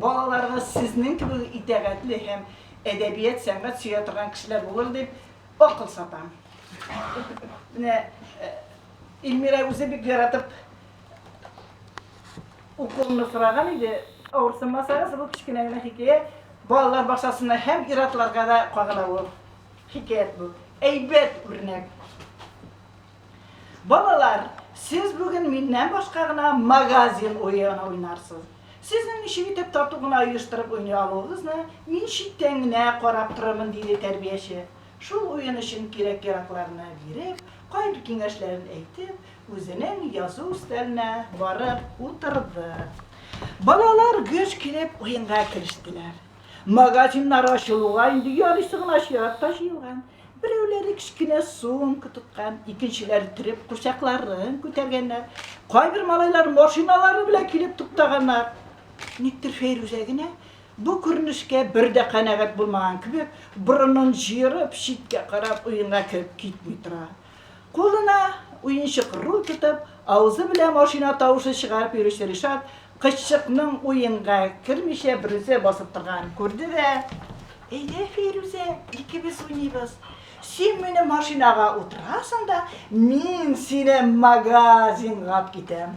Балаларыгыз сезнең кебек итәгатьле һәм әдәбият, сәнгать сөя торган кешеләр булыр дип акыл сатам. Менә Ильмира үзе бик яратып укуымны сораган иде. Авырсынмасагыз, бу кечкенә генә хикәя балалар бакчасына һәм ир-атларга да кагыла бу. Хикәят бу. Әйбәт үрнәк. Балалар, сез бүген миннән башка гына магазин уен уйнарсыз. Сезнең ничек итеп тату гына оештырып уйный алуыгызны мин читтән генә карап торырмын, диде тәрбияче, шул уен өчен кирәк-яракларны биреп, кайбер киңәшләрен әйтеп, үзенең язу өстәленә барып утырды. Балалар гөж килеп уенга керештеләр. Магазиннар ачылуга инде ярыйсы гына чират та җыелган. Берәүләре кечкенә сумка тоткан, икенчеләре треп курчакларын күтәргәннәр. Кайбер малайлар машиналары белән килеп туктаганнар. Никтер Фәйрүзә генә бу күренешкә бер дә канәгать булмаган кебек, борынын җыерып, читкә карап уенга кереп китми тора. Кулына уенчык руль тотып, авызы белән машина тавышы чыгарып йөрүче Ришат кызчыкның уенга кермичә берүзе басып торганын күрде дә, Әйдә, Фәйрүзә, икебез уйныйбыз. Син минем машинага утырасың да, мин сине магазинга алып китәм.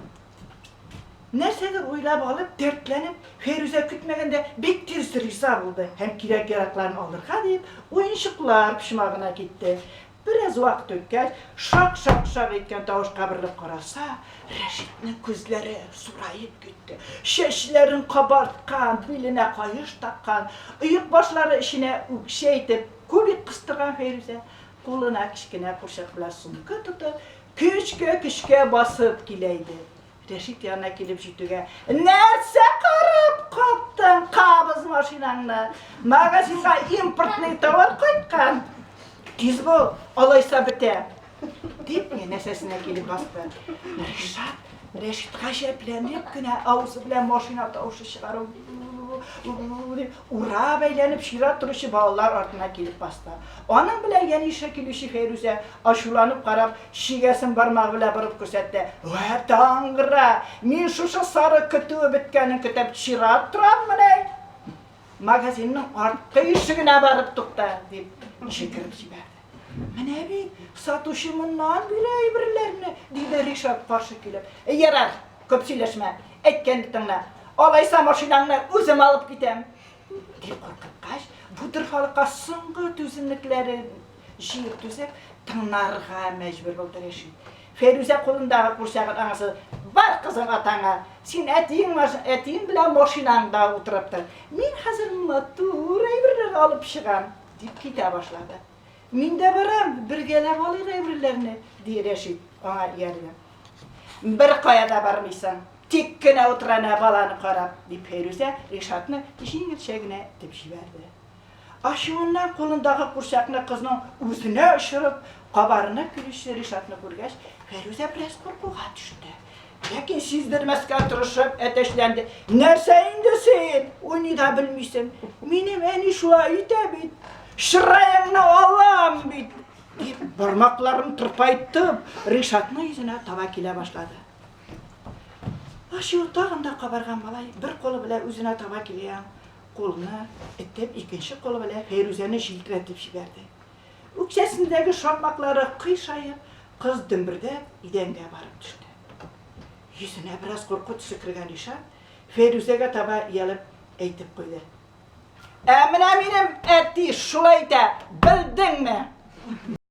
Нәрсәдер уйлап алып, дәртләнеп, Фәйрүзә көтмәгәндә бик тиз риза булды һәм кирәк-яракларын алырга дип, уенчыклар почмагына китте. Бераз вакыт үткәч, шак-шак-шак иткән тавыш каберлеп караса, Рәшитнең күзләре зураеп китте, чәчләрен кабарткан, биленә каеш таккан, оек башлары эченә үкчә итеп кубик кыстырган Фәйрүзә, кулына кечкенә курчак белән сумка тотып, көчкә-көчкә басып килә иде. Рәшит янына килеп җитүгә, нәрсә карап каттың, кабыз машинаңны. Магазинга импортный товар кайткан. Тиз бул, алайса бетә. Дип, янәсәсенә килеп басты. Ришат Рәшит гаҗәпләнеп кенә авызы белән машина тавышы чыгару урап әйләнеп чират торучы балалар артына килеп басты. Аның белән янәшә килүче Фәйрүзә, ачуланып карап, чигәсен бармагы белән борып күрсәтте. Вә таңгра! Мин шушы сарык көтүе беткәнен көтеп чират тораммыни? Әйт! Магазинның арткы ишегенә барып тукта! дип җикереп җибәрде. Менә бит, сатучы моннан бирә әйберләрне, диде Ришат каршы килеп. Ярар, күп сөйләшмә, әйткәнне тыңла. Алайса машинаңны үзем алып китәм. дип куркыткач, бу дорфалыкка соңгы түземлекләрен җыеп түзеп, тыңнарга мәҗбүр булды Рәшит. Фәйрүзә кулындагы курчагын аңасы, бар кызым атаңа, син әтиең, әтиең белән машинаңда утырып тор. Мин хәзер матур әйберләр алып чыгам, дип китә башлады. Мин дә барам, бергәләп алыйк әйберләрне, ди Рәшит аңа ияргә. Беркая да бармыйсың, тик кенә утыр әнә баланы карап, дип Фәйрүзә Ришатны җиңелчә генә этеп җибәрде. Ачуыннан кулындагы курчакны кызның үзенә очырып, кабарынып килүче Ришатны күргәч, Фәйрүзә бераз куркуга төште. Ләкин сиздермәскә тырышып әтәчләнде. Нәрсә инде син? Уйный да белмисең. Минем әни шулай итә бит. Чыраеңны алам бит. Дип бармакларын тырпайтып, Ришатның йөзенә таба килә башлады. Ачуы тагын да кабарган малай бер колы белән үзенә таба килгән кулны этеп, икенче колы белән Фәйрүзәне җилтерәтеп җибәрде. Үкчәсендәге шакмаклары кыйшаеп, кыз дөмбердәп идәнгә барып төште. Йөзенә бераз курку төсе кергән Ришат Фәйрүзәгә таба иялеп әйтеп куйды. Ә менә минем әти шулай итә, белдеңме?